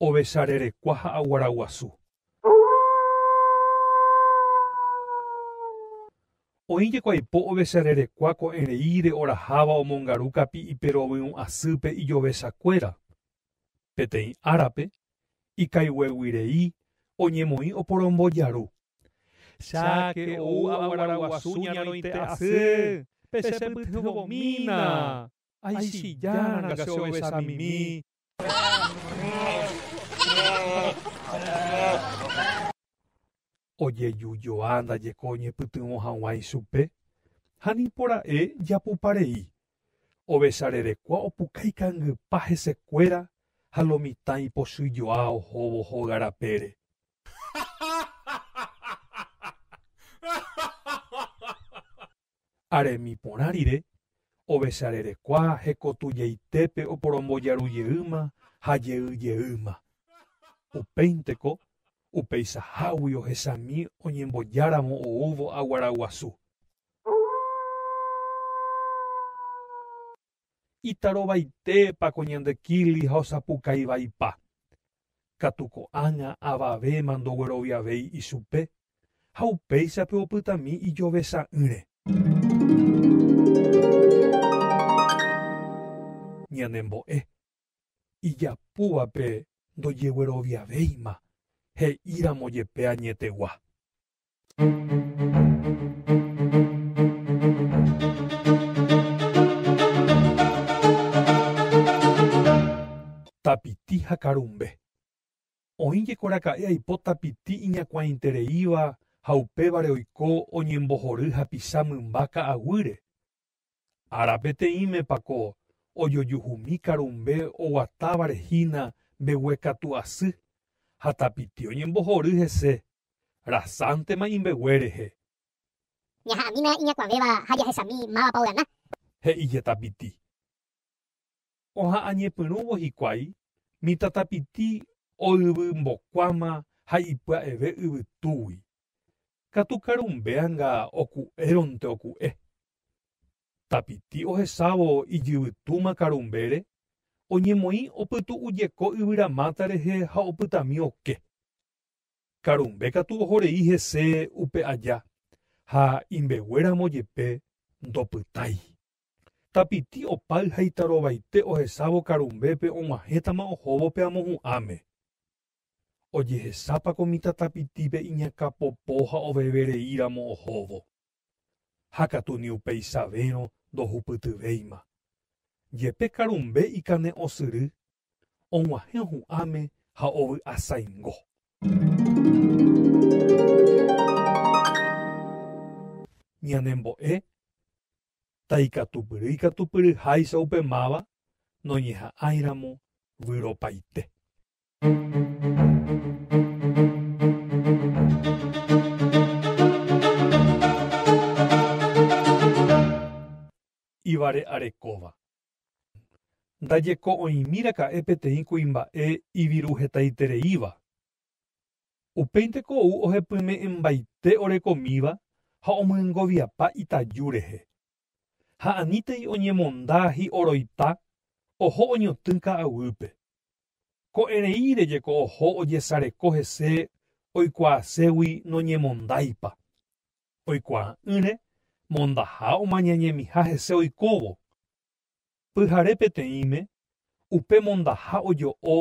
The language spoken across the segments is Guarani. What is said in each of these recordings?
Ovecha rerekua ha aguara guasu. Oĩ jeko aipo ovecha rerekua ko'ẽreíre oraháva omongaru kapi'ipe rovyũ asýpe ijovechakuéra. Peteĩ árape, ikaigueguirei oñemoĩ oporombojaru. Cháke ou aguaraguasu ñaroite asy, pe che pytyvõmína! Aichija ranga che ovecha mimi! ojejujoa ndajeko oñepytyvõ hag̃ua ichupe, ha nipora'e japupa rei, ovecharerekua opuka ikangypa hesekuéra ha lo mitã ipochy joa ohóvo hóga rapére. Aremi porã rire, ovecharerekua hekotujeitépe oporombojarujeýma ha jeyjeýma. Upéinteko, upeichahágui ohechami oñembojáramo oúvo aguaraguasu. Itarovaitépa ko ñande kili ha osapukaivaipa. Katu ko'ág̃a avavéma ndogueroviavéi ichupe ha upéichape opytami ijove sa'ỹre. Ñanembo'e, ijapúvape ndojegueroviavéima he'íramo jepe añetegua. Tapiti ha karumbe. Oĩ jekoraka'e aipo tapiti iñakuãitereíva ha upévare oiko oñembohory hapicha mymba ka'aguýre Ára peteĩmepa ko ojojuhumi karumbe oguatávare hína mbeguekatu asy ha tapiti oñembohory hese, rasántema imbegue rehe. Ñaha'ãmína iñakuãvéva ha jahesami mávapa ogana. He'íje tapiti. Oha'ãñepyrũvo hikuái, mitãtapiti oyvymbokuáma ha ipya'eve yvytúgui. Katu karumbeanga oku'éronte oku'e. Tapiti ohesávo ijyvytúma karumbére, oñemoĩ opytu'ujeko yvyramáta rehe ha opytami oke. Karumbe katu ohorei hese upe aja ha imbeguéramo jepe ndopytái. Tapiti opáy ha itarovaite ohesávo karumbépe og̃uahẽtama ohóvo pe amohu'ãme. Ojehesápa ko mitã tapitípe iñakãpopo ha ovevereíramo ohóvo. Ha katu ni upeisavérõ ndohupytyvéima. Jepe karumbe ikane'õsyry, og̃uahẽ ohu'ãme ha ovy'asaingo. Ñanembo'e ta ikatupyry ikatupyry háicha upe máva noñeha'ãiramo vyropaite. Ivare'arekóva. Ndajeko'õimíraka'e peteĩ kuimba'e iviruhetaitereíva, Upéinte ko ou ohepyme'ẽmbaite orekomíva ha omyengoviapa itaju rehe. Ha anítei oñemonda hi'oroita oho oñotỹ ka'aguýpe. Ko'ẽreíre jeko oho ojesareko hese oikuaaségui noñemondáipa. Oikuaa'ỹre mondaha omañañemiha hese oikóvo, Pyhare peteĩme, upe mondaha ojo'o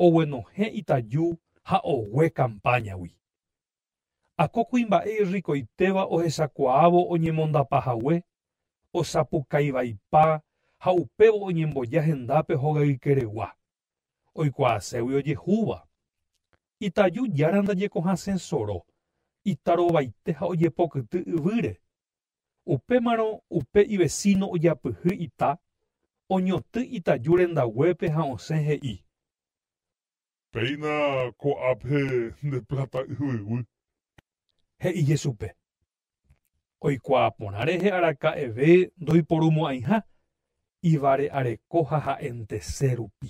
oguenohẽ itaju ha ogue kampáñagui. Ha ko kuimba'e irrikoitéva ohechakuaávo oñemondapa hague, osapukaivaipa ha upévo oñemboja hendápe hogaykeregua, oikuaaségui ojehúva. Itaju Jára ndajekohasẽ soro, itarovaite ha ojepokyty yvýre, Upémarõ upe ivesíno ojapyhy ita, oñotỹ itaju rendaguépe ha osẽ he'i. Péina ko'ápe nde pláta yvyguy. He'i Jesupe. Oikuaa porã rehe araka'eve ndoiporumo'ãiha, ivare'areko ha ha'entese rupi.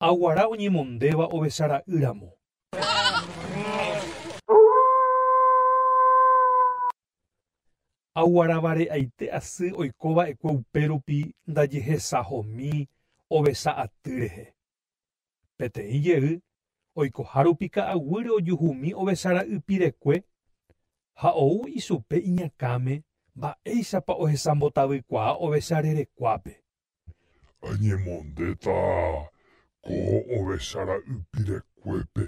Ha guara oñemondéva ovecha ra'y ramo. Ha guara vare'aite asy oiko va'ekue upe rupi ndajehesahomi ovecha aty rehe. Peteĩ jey, oikoha rupi ka'aguýre ojuhumi ovecha ra'y pirekue, ha ou ichupe iñakãme mba'éichapa ohesambotavy kuaa ovecha rerekuápe. Añemondéta ko ovecha ra'y pirekuépe.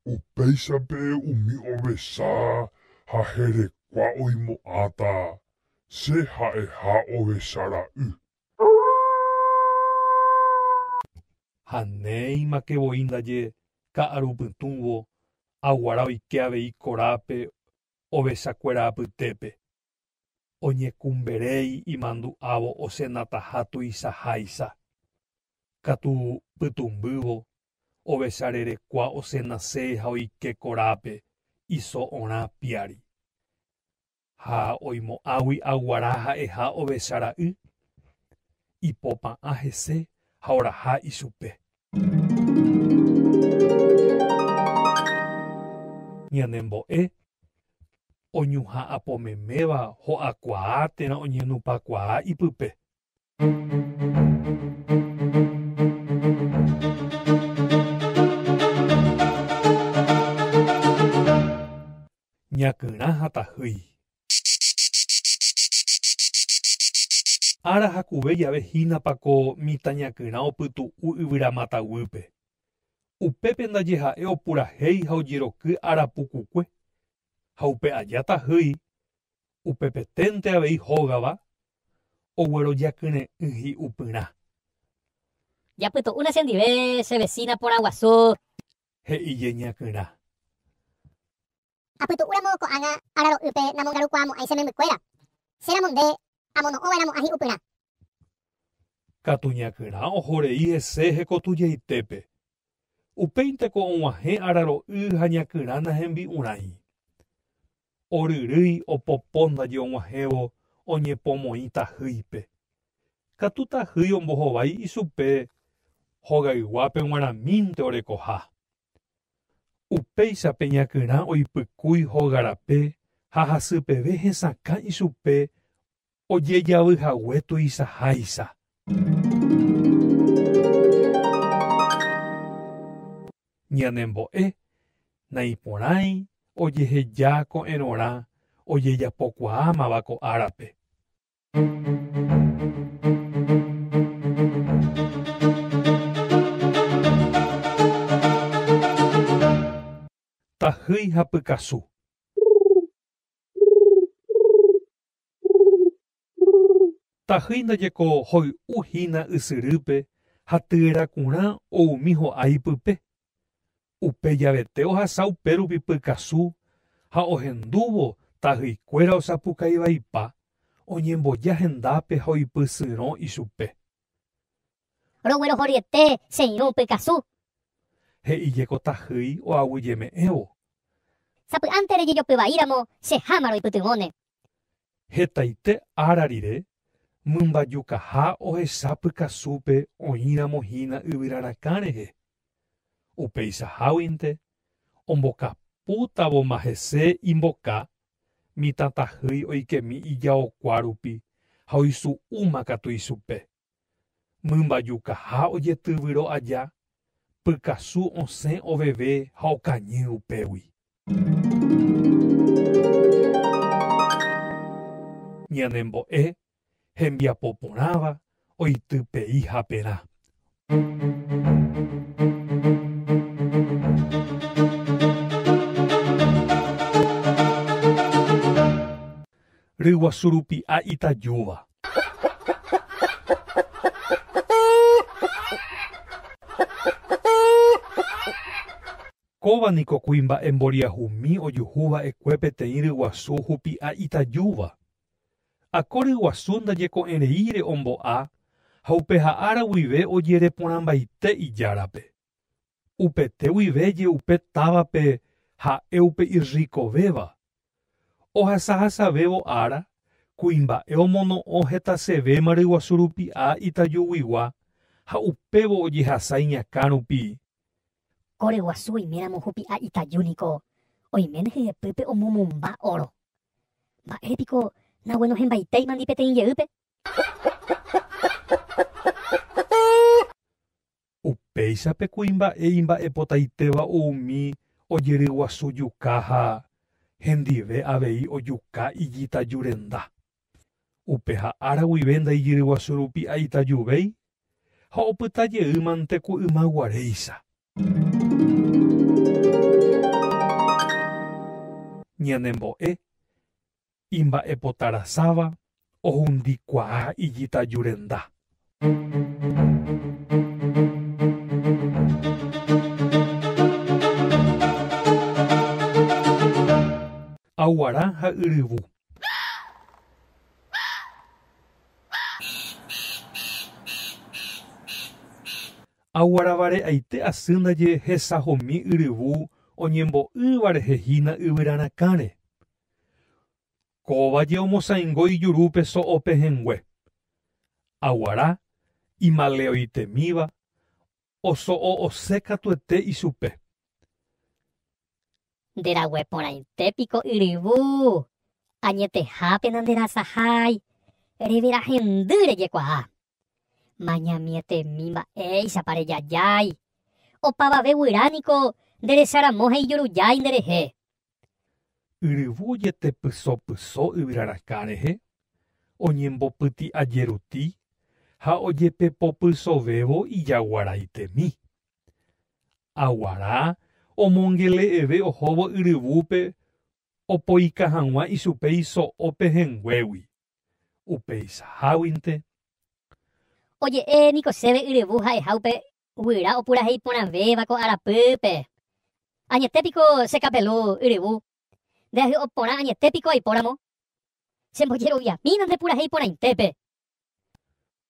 Upéichape umi ovecha ha herekua oimo'ãta che ha'eha ovecha ra'y. Ha néimake voi ndaje ka'aru pytũvo, aguara oike avei korápe ovechakuéra apytépe. oñekumberéi imandu'ávo osenataha tuichaháicha, katu pytũmbývo ovecharerekua osenase ha oike korápe iso orã piári. Ha oimo'ãgui aguara ha'eha ovecha ra'y, ipopa'ã hese ha oraha ichupe. Ñanembo'e oñuhã apo meméva ho'akuaa térã oñenupakuaa ipype. Ñakyrã ha tahýi. Ára jakuve jave hínapa ko mitã ñakyrã opytu'u yvyra mata guýpe. Upépe ndaje ha'e opurahéi ha ojeroky arapukukue, ha upe aja tahýi upepeténte avei hógava oguerojakyre'ỹ hi'upyrã. Japytu'úne chendive che vesína porãguasu. He'i jeñakyrã. Apytu'úramo ko'ág̃a araro'ýpe namongarukuaamo'ãi che membykuéra, chéramo nde amono'õva'eramo'ã hi'upyrã. Katu ñakyrã ohorei hese hekotujeitépe Upéinteko og̃uahẽ araro'y ha ñakyrã nahembi'urãi. Oryrýi opopo ndaje og̃uahẽvo oñepomoĩ tahýipe. Katu tahýi ombohovái ichupe hogayguápe g̃uarãmínte orekoha. Upéicha pe ñakyrã oipykúi hogarape ha hasypeve hesakã ichupe ojejavy hague tuichaháicha. Ñanembo'e naiporãi ojeheja ko'ẽrõrã ojejapokuaámava ko árape. Tahýi ha pykasu. Tahýi ndajeko hoy'u hína ysyrýpe ha tyerakurã oumi ho'a ipype. Upe javete ohasa upérupi pykasu ha ohendúvo tahýikuéra osapukaivaipa oñemboja hendápe ha oipysyrõ ichupe. Roguerohoryete che irũ pykasu. He'i jeko tahýi oaguyjeme'ẽvo. Sapy'ánte rejejopy vaíramo che háma roipytyvõne. Hetaite ára rire, mymbajukaha ohecha pykasúpe oĩramo hína yvyrarakã rehe. Upeichaháguinte, ombokapútavoma hese imboka, mitãtahýi oikemi ijaokua rupi ha oisu'úma katu ichupe. Mymbajukaha ojetyvyro aja, pykasu osẽ oveve ha okañy upégui. Ñanembo'e hembiapo porãva oity pei haperã. Ryguasu rupi ha itajúva. Kóva niko kuimba'e mboriahumi ojuhu va'ekue peteĩ ryguasu hupi ha itajúva. Ha ko ryguasu ndajeko'ẽreíre ombo'a ha upe ha'ára guive ojereporãmbaite ijárape. Upete guive je'upe távape ha'e upe irrikovéva. Ohasahasavévo ára, kuimba'e omono'õ hetasevéma ryguasu rupi'a itajuguigua ha upévo ojehasa iñakã rupi. Ko ryguasu oiméramo hupi'a itaju niko oiméne hyepýpe omomomba óro. Mba'ére piko naguenohẽmbaitéimandi peteĩ jeýpe? Upéicha pe kuimba'e imba'epotaitéva umi ojeryguasu juka ha hendive avei ojuka ijitaju renda. Upe ha ára guive ndaijyryguasu rupi aitajuvéi ha opyta jey mante ku yma guaréicha. Ñanembo'e, imba'epotarasáva ohundikuaa ijitaju renda. Aguara ha yryvu. Aguaravare'aite asy ndaje hesahomi yryvu oñembo'ýva rehe hína yvyrarakãre. Kóva je omosãingo ijurúpe so'o pehẽngue. Aguara, imaleoitemíva, oso'o osẽ katuete ichupe. Nde rague porãite piko yryvu, añetehápe nanderasahái, reverahendy rejekuaa. Mañamietemi mba'éichapa rejajái. Opavave guyra niko nde resa ramo ha ijurujái nde rehe. Yryvu ojetepyso pyso yvyra rakã rehe, oñembopyti'a jeruti ha ojepepopysovévo ijagua raitemi. Aguara omongele'eve ohóvo yryvúpe opoika hag̃ua ichupe iso'o pehẽnguégui. Upeichaháguinte. Oje'e niko chéve yryvu ha'eha upe guyra opurahei porãvéva ko arapýpe. Añete piko che kapelu yryvu. Nde ahy'o porã añete piko aipóramo. Chembojeroviamína nde purahei porãitépe.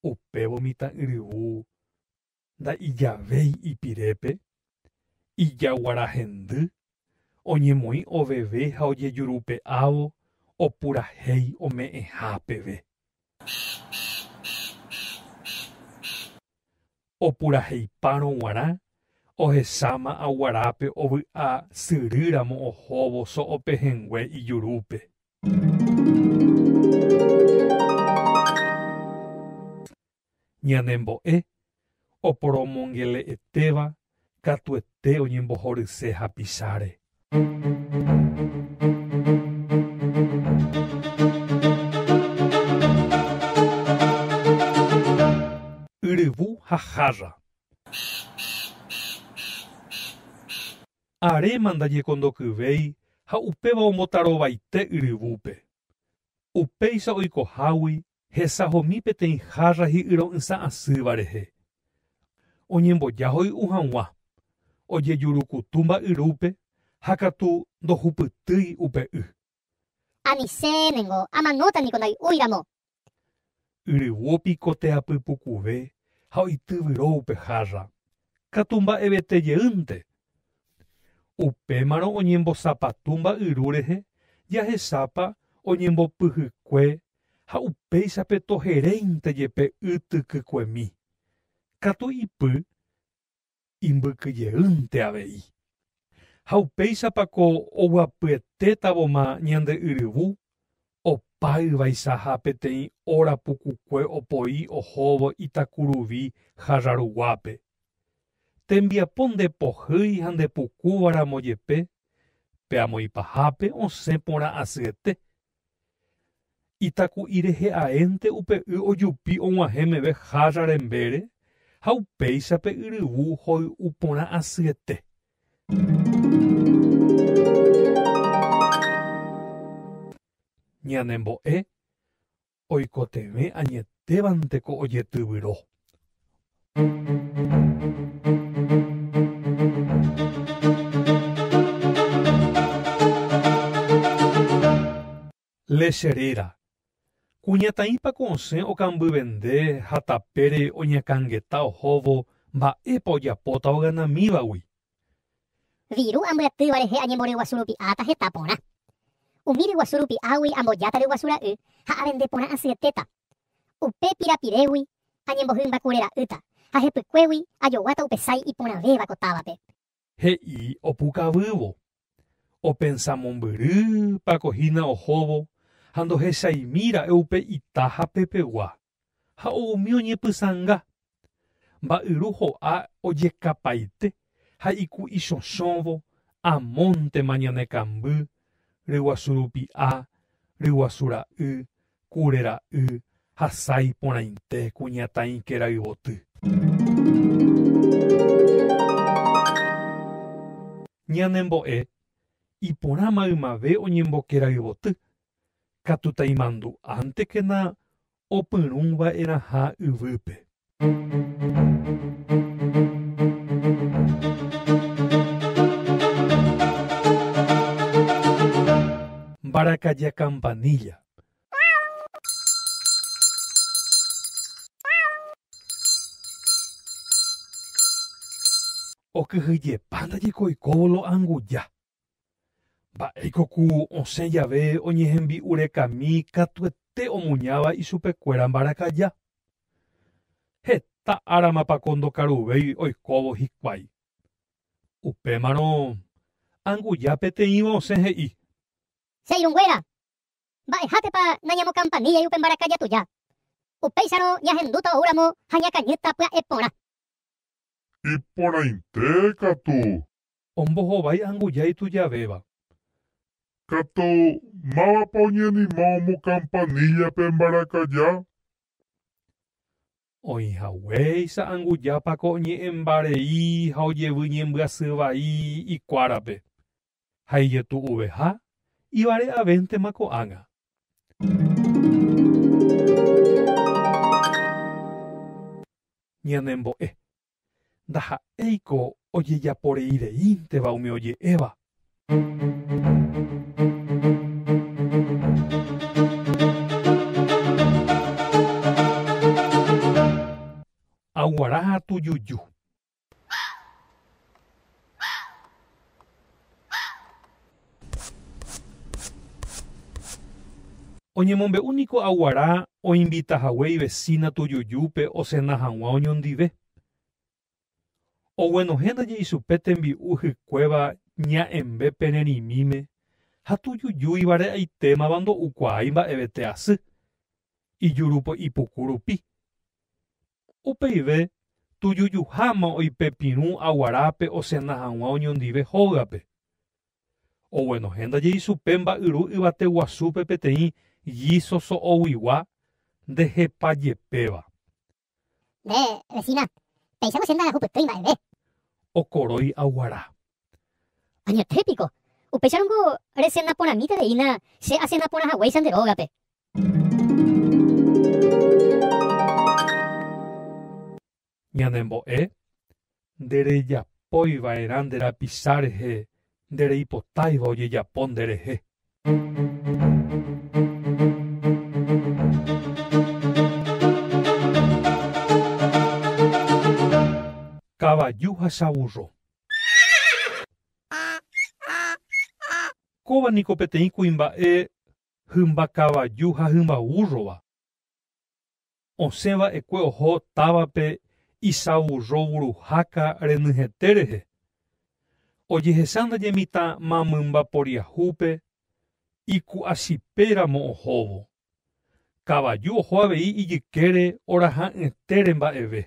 Upévo mitã yryvu nda'ijavéi ipirépe, ijaguara hendy, oñemoĩ oveve ha ojejurupe'ávo opurahéi ome'ẽha peve. Opuraheipárõ guarã ohesáma aguarápe ovy'a syry ramo ohóvo so'o pehẽngue ijurúpe. ñanembo'e oporomongele'etéva katuete oñembohoryse hapicháre. Yryvu ha hárra. Aréma ndañekondokyvéi ha upéva ombotarovaite yryvúpe. Upéicha oikohágui Hesahomi peteĩ hárra hi'yro'ysã asýva rehe. Oñemboja hoy'u hag̃ua, ojejurukutu mba'yrúpe ha katu ndohupytýi upe y. Anisẽ ningo amanóta niko ndai'úi ramo. Yryvu opikoteapy pukuve ha oityvyro upe hárra. katu mba'evete jeýnte. Upémarõ oñembosapatu mba'yru rehe jahechápa oñembopyhykue ha upéichape toheréinte jepe y tykykuemi, katu ipy imbykyjeýnte avei. Ha upéichapa ko oguapyetétavoma ñande yryvu Opa yvaisaha peteĩ óra pukukue opoi ohóvo itakuruvi hára ruguápe. Tembiapo nde pohýi ha nde pukúva ramo jepe, pe amoĩ pahápe osẽ porã asyete. Itaku'i rehe aénte upe y ojupi og̃uahẽ meve hára rembére ha upéicha pe yryvu hoy'u porã asyete. Ñanembo'e oikotevẽ añetévante ko ojetyvyro. Léche réra. Kuñataĩpako osẽ okambyvende ha tapére oñakãngeta ohóvo mba'épa ojapóta oganamívagui. Viru ambyatýva rehe añemboryguasu rupi'áta heta porã. Umi ryguasu rupi'águi ambojáta ryguasu ra'y ha avende porã asyetéta. Upe pirapirégui añembohymba kure ra'ýta ha hepykuégui ajoguáta upe sái iporãvéva ko távape. he'i opukavývo, opensa mombyry pako hína ohóvo ha ndohechaimi ra'e upe ita ha pepegua, ha umi oñepysãnga. Mba'yru ho'a ojekapaite ha iku'i chochõvo amóntema ñane kamby, ryguasu rupi'a, ryguasu ra'y Kure ra'y hasa iporãite kuñataĩke rayvoty. Ñanembo'e iporã maymave oñemboke rayvoty, katu taimandu'ántekena opyrũva'erãha yvýpe. Mbarakaja campanilla. Okyhyjepa ndaje ko oikóvo lo'anguja. Mba'éiko ku osẽ jave oñehembi'urekami katuete omuñáva ichupekuéra mbarakaja? Heta áramapako ndokaruvéi oikóvo hikuái. Upémarõ anguja peteĩva osẽ he'i. Che irũnguéra, mba'ehátepa nañamokampaníllai upe mbarakaja tuja? Upéicharõ ñahendúta ou ramo ha ñakañýta pya'e porã. Iporãite katu Ombohovái anguja itujavéva. Katu, mávapa oñanima omokampanilla pe mbarakaja? Oĩhaguéicha anguja pako oñe'ẽmbarei ha ojevy ñembyasy vai ikuárape, ha ijetu'uveha ivare'avéntema ko'ág̃a. Ñanembo'e, ndaha'éiko ojejaporeireínteva umi oje'éva. Aguara ha tujuju. Oñemombe'u niko aguara oinvita hague ivesína tujujúpe osena hag̃ua oñondive. Oguenohẽ ndaje ichupe tembi'u hykuéva ña'ẽmbe pene rimíme ha tujujúiva re'aitémava ndo'ukuaái mba'evete asy, ijuru po ipuku rupi. Upeive tujujuháma oĩ pe pirũ aguarápe osena hag̃ua oñondive hógape. Oguenohẽnda jeisupe mba'yru yvate guasúpe peteĩ gíso so'oguigua nde hepa jepéva. Nde vecina, péicha nosénda ahupytýi mba'eve. Okorói aguara. Añetépiko, upéicharõ niko resena porãmíta reína che asena porã haguéicha nde rógape. Ñanembo'e, Nderejapói va'erã nde rapicha rehe nde reipotáiva ojejapo nde rehe. Kavaju ha cha vurro. Kóva niko peteĩ kuimba'e hymba kavaju ha hymba vúrrova. Osẽ va'ekue oho távape isavurro vuruháka renyhẽte rehe, ojehecha ndaje mitã mamymba poriahúpe iku'asipe ramo ohóvo. Kavaju oho avei ijykére oraha'ỹetére mba'eve.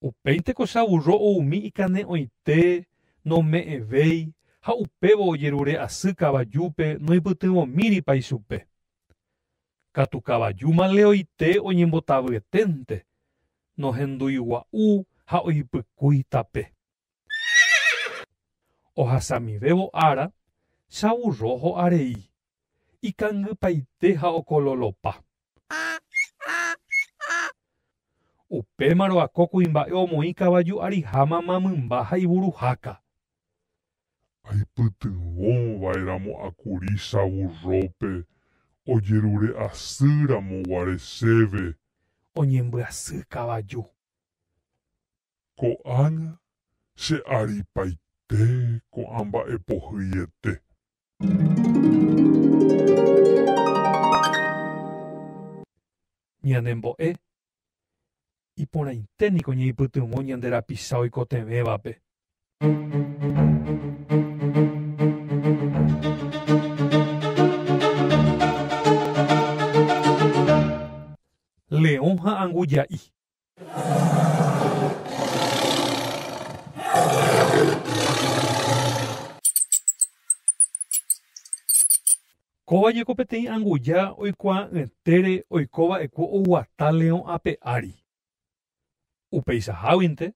Upéi tekochavurro oumi ikane'õite, nome'ẽvéi, ha upévo ojerure asy kavajúpe noipytyvõmíripa ichupe. Katu kavaju maleoite oñembotavyeténte, nohenduigua'u ha oipykúi tape. Ohasamivévo ára, chavurro ho'arei. ikangypaite ha okololopa. Upémarõ ako kuimba'e omoĩ kavaju ariha mama mymba ha ivuruháka. Aipytyvõ vaeramo akuri savurrópe ojerure asy ramo guare chéve. Oñembyasy kavaju. Ko'ág̃a che aripaite ko'ã mba'e pohyiete. Ñanembo'e, iporãite niko ñaipytyvõ ñande rapicha oikotevẽvape. Leõ ha anguja'i. Kóva ñeko peteĩ anguja oikuaa'ỹetére oiko va'ekuo oguata leõ ape ári. Upeichaháguinte,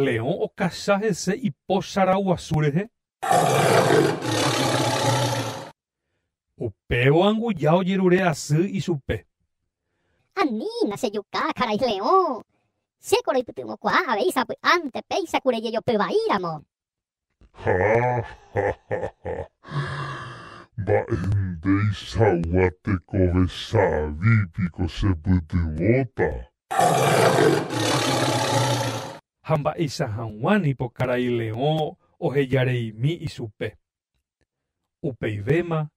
leõ okacha hese ipo charaguasu rehe. Upévo anguja ojerure asy ichupe. Anína che juka karai leõ, chéko roipytyvõkuaa avei sapy'ánte péicha kure jejopy vai ramo. Ha, ha, ha, ha. Mba'e ndeichagua tekove savi piko chepytyvõta? Ha mba'eicha hag̃ua nipo karai leõ ohejareimi ichupe. Upeivéma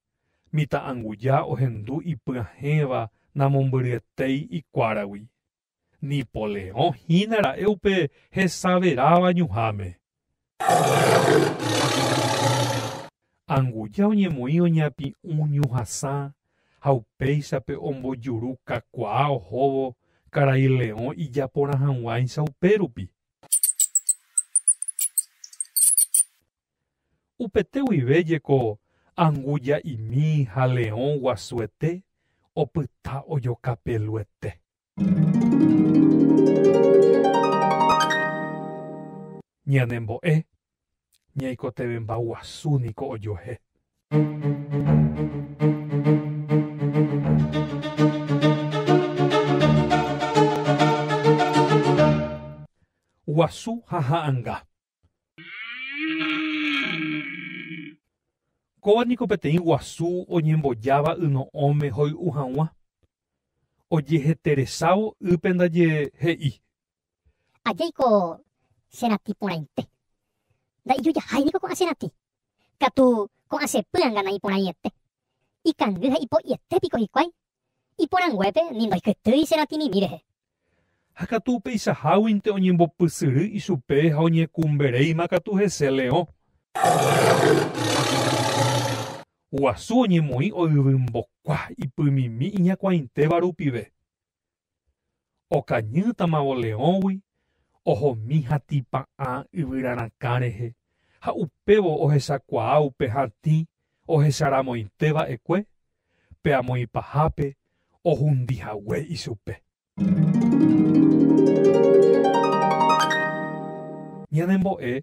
mitã'anguja ohendu ipyahẽva namombyryetéi ikuáragui. Nipoleõ hína ra'e upe hesaveráva ñuháme. Anguja oñemoĩ oñapi'ũ ñuhasã ha upéichape ombojuru kakuaa ohóvo karai leõ ijaporãhag̃uáicha upérupi. Upete guive jeko anguja'imi ha leõ guasuete opyta ojoka peluete. Ñanembo'e, ñaikotevẽmba guasu niko ojuehe. Guasu ha ha'anga. Kóva niko peteĩ guasu oñembojáva yno'õme hoy'u hag̃ua. Ojeheteresávo ýpe ndaje he'i. Ajaiko che ratĩ porãite. Nda'ijujahái niko ko'ã che ratĩ. Katu ko'ã che pýanga naiporãiete. Ikangy ha ipo'iete piko hikuái Iporãnguépe ni ndoikytýi che ratĩmimi rehe. Ha katu upeichaháguinte oñembopysyry ichupe ha oñekumberéima katu hese leõ. Guasu oñemoĩ oyvymbokua ipymimi iñakuãitéva rupive. Okañýtamavo leõgui ohomi hatĩpa'ã yvyrarakã rehe ha upévo ohechakuaa upe hatĩ ohecharamoite va'ekue pe amoĩpahápe ohundi hague ichupe. Ñanembo'e